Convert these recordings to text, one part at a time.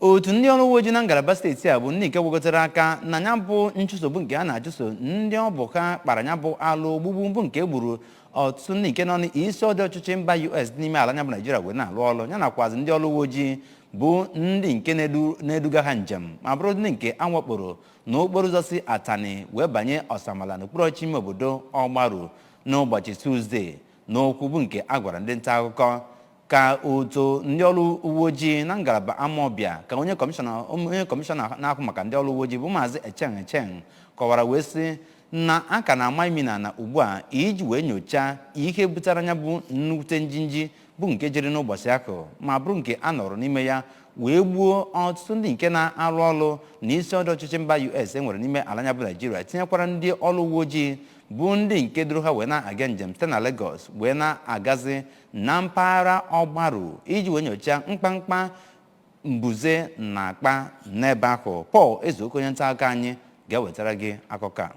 otu ndị ọrụ uwe ojii na ngalaba steeti a bụ ndị nke gwakọtara aka na ya bụ nchụso bụ nke a na-achụso ndị ọ bụ ha kpara ya bụ alụ ogbugbu bụ nke gburu ọtụtụ ndị nke nọ n'isi ọdụ ọchịchị mba us dị n'ime ala anyị a bụ naijiria wee na-alụ ọrụ ya nakwazi ndị ọrụ uwe ojii bụ ndị nke na-edu- na-eduga ha njem ma bụrụ ndị nke a wakporo na okporo ụzọ si atani wee banye ọsamala n'okpuru ọchịchị ime obodo ọgbaru n'ụbọchị tuzdee N'okwu bụ nke a gwara ndị nta akụkọ ka otu ndị ọrụ uwe ojii na ngalaba Amawbia ka onye kọmishọna na-ahụ maka ndị ọrụ uwe ojii bụ maazị Echeng Echeng kọwara wee sị na a ka na-ama imi na ala ugbu a iji wee nyochaa ihe butere ya bụ nnukwute njinji bụ nke jiri n'ụbọchị ahụ ma bụrụ nke a nọrọ n'ime ya wee gbuo ọtụtụ ndị nke na-arụ ọrụ na isi ọdụ ọchịchị mba US e nwere n'ime ala anyị a bụ Naijiria tinyekwara ndị ọrụ uwe ojii bụ ndị nke duru ha wee na-aga njem site na Lagos wee na-agazi na mpaghara ọgbaru iji wee nyochaa mkpamkpa mbuze na-akpa n'ebe ahụ Paul Ezeoke onye nta akụkọ anyị ga-ewetara gị akụkọ a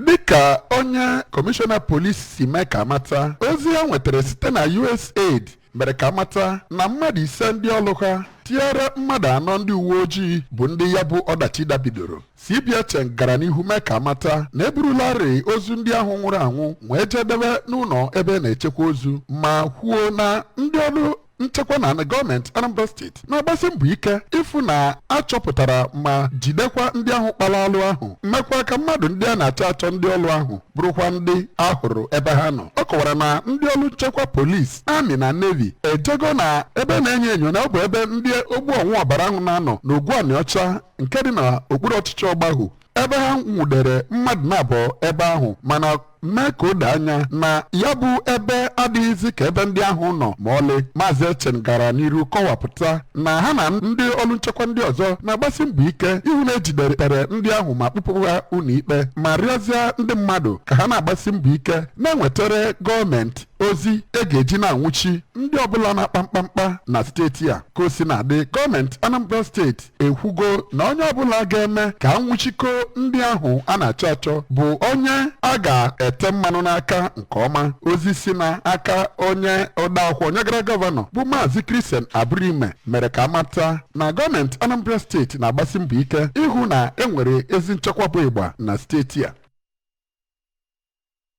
dịka onye kọmishọna polisi si mee ka a mata ozi ha nwetara site na usaid mere ka a mata na mmadụ ise ndị ọrụ ha tinyere mmadụ anọ ndị uwe ojii bụ ndị ya bụ ọdachi dabidoro cp echeng gara n'ihu mee ka a mata na e burularị ozu ndị ahụ nwụrụ anwụ wee je debe n'ụlọ ebe a na-echekwa ozu ma kwuo na ndị ọrụ nchekwa na gọọmenti anambra steeti na-agbasi mbọ ike ịfụ na a chọpụtara ma jidekwa ndị ahụ kpara alụ ahụ mekwaa ka mmadụ ndị a na-achọ achọ ndị ọlụ ahụ bụrụkwa ndị a hụrụ ebe ha nọ ọ kọwara na ndị ọlụ nchekwa polisi amị na nevi ejego na ebe a na-enyo enyo na ọ bụ ebe ndị ogbu ọṅụ ọbara ahụ na-anọ n'ogwu anịọcha nke dị na okpuru ọchịchị ọgbahụ ebe ha nwụdere mmadụ naabọ ebe ahụ mana mee ka o doo anya na ya bụ ebe adịghịzi ka ebe ndị ahụ nọ ma ọlị maazị echeng gara n'iru kọwapụta na ha na ndị ọrụ nchekwa ndị ọzọ na-agbasi mbọ ike ịhụ na e jidere ndị ahụ ma kpụpụ ha ụlọikpe ma rịọzie ndị mmadụ ka ha na-agbasi mbọ ike na-ewetara gọọmenti ozi e ga-eji na-anwụchi ndị ọbụla na-akpa mkpamkpa na steeti a ka o sina dị gọọmenti Anambra steeti ekwugo na onye ọbụla ga-eme ka a nwụchikọ ndị ahụ a na-achọ achọ bụ onye a ga-ete mmanụ n'aka nke ọma ozi si na aka onye odeakwụkwọ nyegara gọvanọ bụ maazị Christian Aburime mere ka a mata na gọọmenti Anambra steeti na-agbasi mbọ ike ịhụ na e nwere ezi nchekwa bụ ịgba na steeti a